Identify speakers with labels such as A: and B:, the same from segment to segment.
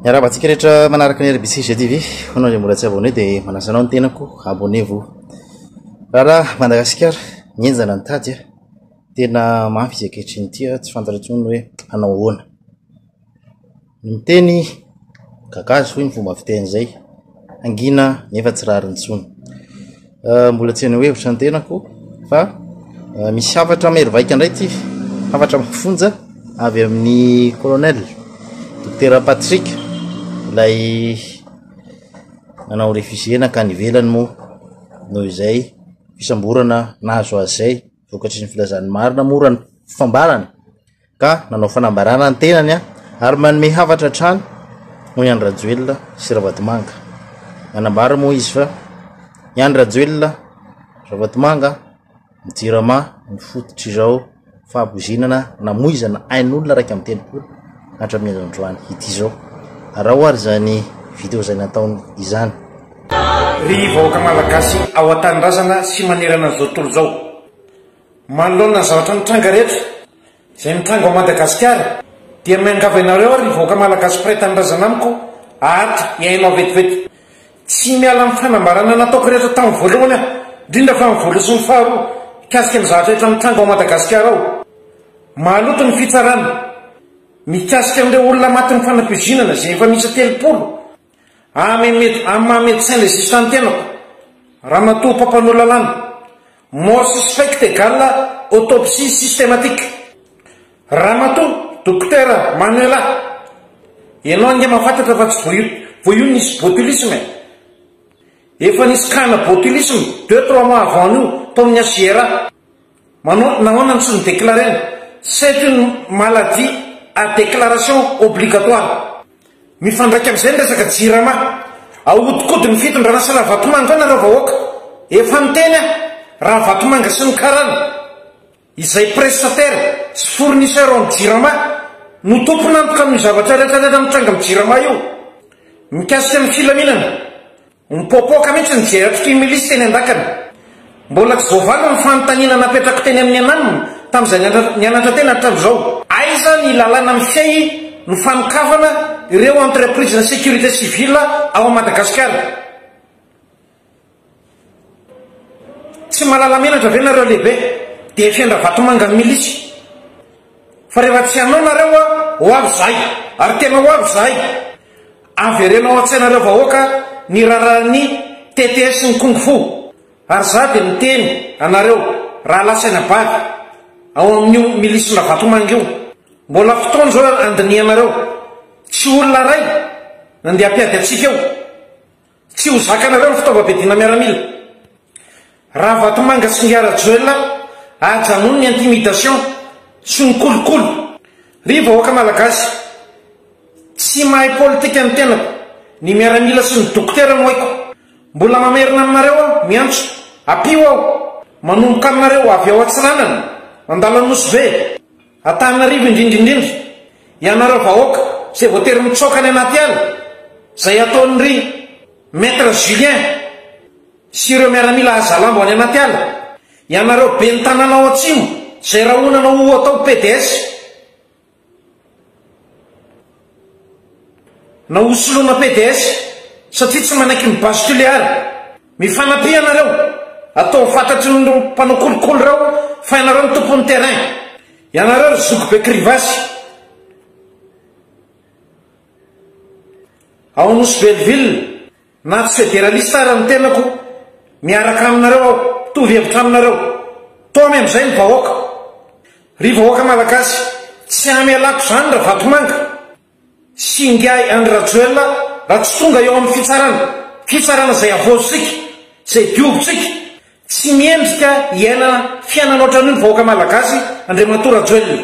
A: Miarahaba antsika rehetra manaraka ny RBC GTV. Hono izay mbola tsy abonné dia manasa anao ny tenako, abonnez-vous. Raharaha Madagasikara, mihenjana ny tady a. Tena mafy izy ankehitriny ity a, tsy fantatra intsony hoe hanao ahoana. Ny miteny gagazo hoy ny fomba fiteny izay. hangina nefa tsy rariny intsony. Mbola tsy haneho hevitra ny tenako fa misy hafatra mahery vaika indray ity, hafatra mafonja avy amin'ny colonel Dokotera Patrick, ilay nanao réfugié nankany ivelany moa noho izay fisamborana nahazo azy izay. vokatry ny filazan'ny marina moa raha ny fambarany ka nanao fanambarana ny tenany ary manome hafatra hatrany noho i Andry Rajoelina sy Ravatomanga. Nanambara moa izy fa i Andry Rajoelina Ravatomanga ny Jirama ny fototr'izao fahaboizinana namoizana ain'olona raika amin'ny telopolo hatramin'ny androany ity izao. Araho ary izany video izay nataony izany. Ry
B: vahoaka Malagasy ao an-tanindrazana sy manerana an'izao tontolo izao. Manoloana ny zavatra mitranga rehetra izay mitranga ao Madagasikara dia miangavy anareo aho ry vahoaka Malagasy mpiray tanindrazana amiko ato hihaino aho vetivety. Tsy miala amin'ny fanambarana nataoko rehetra tamin'ny voalohany aho, indrindra fa ny voalohany sy ny faharoa mikasika ny zavatra rehetra mitranga ao Madagasikara ao. Maloto ny fitsarana mikasika an'ireo olona matin'ny fanapoizinana izay efa miisa telopolo. Amin amin'ny maha médecin légiste ny tenako, ramatoa mpampanoa lalàna, mort suspecte égale autopsie systématique. Ramatoa Dokotera Manuela, ianao ange mahafantatra fa tsy voa vao io nisy botulisme e! Efa nisy cas-na botulisme deux trois mois avant an'io tao amin'ny HJRA. Manao nahoana no tsy nodeclaraina? C'est une maladie à déclaration obligatoire. Mifandraika amin'izay ny resaka jirama. Ahodikodin'ny fitondrana sy Ravatomanga eo nareo vahoaka. Efa niteny aho, Ravatomanga sy ny karana, izay prestataire sy fournisseur ao amin'ny jirama, no tompon'antoka amin'io zavatra rehetra rehetra mitranga amin'ny jirama io. Mikasika ny filaminana, Mipoapoaka mihitsy ny jeratry Timilisy teny an-dakana. Mbola tsy voavaly ny fanontaniana napetrako teny amin'ny ananiny tamin'izay nianatra teny hatramin'izao. Aiza ny lalàna mifehy ny fanokafana ireo entreprises-na sécurité civile ao Madagasikara? Tsy mahalala menatra ve nareo lehibe? Dia fendra vatomanga ny milisy. Fa rehefa tsy hanao nareo, ho avy izahay. Ary tena ho avy izahay. Avereno ao an-tsaina reo vahoaka ny raraha ny tete sy ny kung fu. Ary za de miteny anareo rahalahy saina bavy ao amin'io milisy Ravatomanga io, mbola fotoana zao andinihanareo, tsy olona ray nandeha hampiady antsika eo. Tsy ho zakanareo ny fitaovam-piadiana miaramila. Ravatomanga sy Ingahy Rajoelina ajanony ny intimidation sy ny kolikoly. Ry vahoaka malagasy, tsy mahay politika ny tenako, ny miaramila sy ny dokotera no haiko. Mbola mamerina aminareo aho, miantso, ampio aho. Manomboka aminareo avy ao Antsiranana, Andalanosibe. Antananarivo indrindra indrindra, ianareo vahoaka izay voatery mitsoaka any anaty ala, izay ataon'i ry Maître Julien sy ireo miaramila hazalambo any anaty ala, ianareo ben'ny tanàna ao atsimo izay rahonana ho atao PDS. Na ho soloana PDS satria tsy manaiky ny basculer ary. Mifanampi ianareo. Ataovy fantatry ny mpanao kolikoly reo fa ianareo no tompony terrain. Ianareo ry zoky be krivasy. Ao Nosy Belleville. Na tsy federalista ara ny tenako, miaraka aminareo aho, mitovy hevitra aminareo. Taomy amin'izay ny vahoaka. Ry vahoaka malagasy, tsy hamelako izany Ravatomanga sy Ingahy Andry Rajoelina raha tsy tonga eo amin'ny fitsarana, fitsarana izay havaozitsika, izay diovitsika. Tsy mendrika hiaina fiainana ohatran'io ny vahoaka malagasy, Andriamatoa Rajoelina.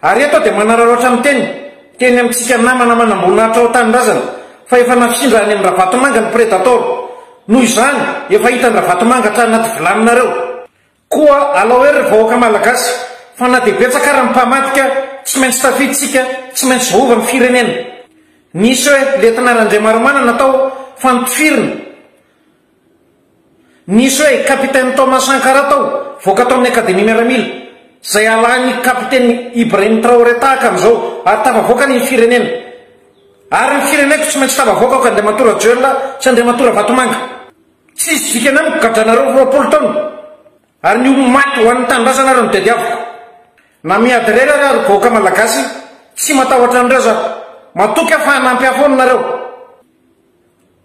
B: Ary eto aho dia manararaotra miteny, teny amintsika namana manamboninahitra ao an-tanindrazana, fa efa nafindra any amin-dRavatomanga ny Predator. Noho izany, efa hitan-dRavatomanga hatrany anaty vilaninareo. Koa alao hery ry vahoaka Malagasy, fa na dia betsaka ara ny mpamadika, tsy maintsy tafiditsika, tsy maintsy voahova ny firenena. Nisy hoe, lentina Randriamaromanana tao, fa notifirina. Nisy hoe Capitaine Thomas Sankara tao, voaka tao amin'ny Akademia Miaramila, izay alahan'ny Kapiteny Ibrahim Traoré tahaka an'izao, ary tafavoakany ny firenena. Ary ny fireneko tsy maintsy tafavoaka aoka Andriamatoa Rajoelina sy Andriamatoa Ravatomanga. Tsy hisy dikany amiko gadranareo roapolo taona, ary ny ho maty ho an'ny tanindrazana ary no tadiaviko. Na miady irery ary aho ry vahoaka Malagasy, tsy matahotra an'ireo za. Matoky aho fa hanampy ahy foana nareo.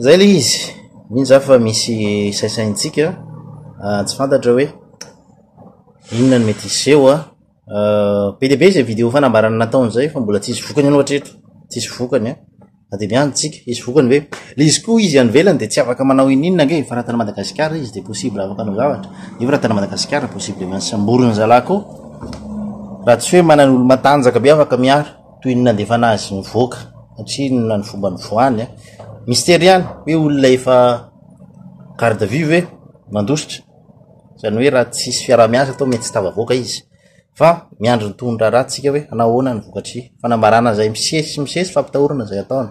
B: Zay
A: le izy, mino za fa misy saisaintsika ah, tsy fantatra hoe inona no mety hiseho ah. ah, be dia be izay vidéo fanambarana nataony zay fa mbola tsisy vokany aloha hatreto, tsisy vokany an, ah. na dia miandry tsika hisy vokany ve, le izy koa izy any ivelany dia tsy afaka manao ininona ange fa raha tany Madagasikara izy dia possible afaka hanao zavatra, nefa raha tany Madagasikara possiblement samboriny zalahy koa, raha tsy hoe manana olo-matanjaka be afaka miaro. toy ny nandefana azy nivoaka satria inona ny fomba nivoahany a mistery ihany hoe olona efa garde à vue ve nandositra izany hoe raha tsisy fiaraha-miasa atao mety tsy tavavoaka izy fa miandry ny tohony raharaha tsika hoe hanao ahoana ny vokatry fanambarana izay misesy misesy fampitahorana izay ataony